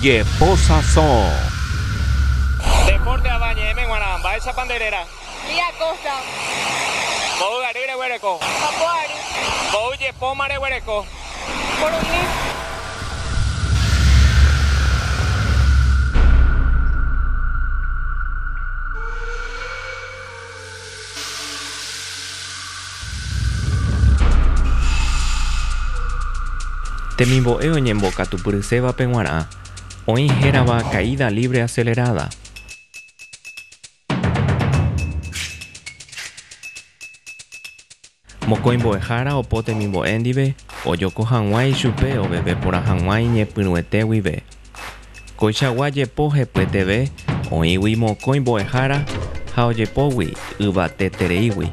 Jepósasõ. Deporte ava ñe'ẽme g̃uarã, mba'éichapa nde réra? Lía Costa. Mboy ary reguereko. Papo ary. Mboy jepóma reguereko. Purumi. Temimbo'e oñembokatupyrysévape g̃uarã, oĩ hérava caída libre acelerada. Mokõi mbo'ehára opo temimbo'e ndive ojoko hag̃ua ichupe oveve porã hag̃ua iñepyrũete guive. Koichagua jepo hepyeteve oĩgui mokõi mbo'ehára ha ojepógui yvatetereígui.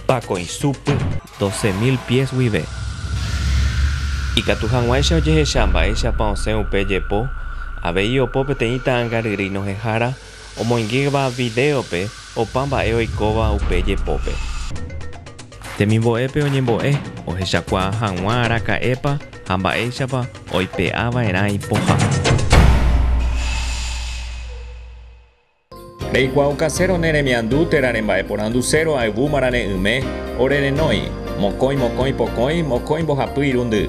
Pakõisúpy, doce mil pies guive. Ikatu hag̃uáicha ojehecha mba'éichapa osẽ upe jepo, avei opo peteĩ ta'ãngaryrýi nohehára Omoingéva vidéope opa mba'e oikóva upe jepópe. Temimbo'épe oñembo'e ohechakuaa hag̃ua araka'épa ha mba'éichapa oipe'a va'erã ipoha. Reikuaau kasero ne remiandu térã remba'eporandu séro ayvu marare'ỹme ore renói, mokõi mokõi pokõi mokõi mbohapy irundy.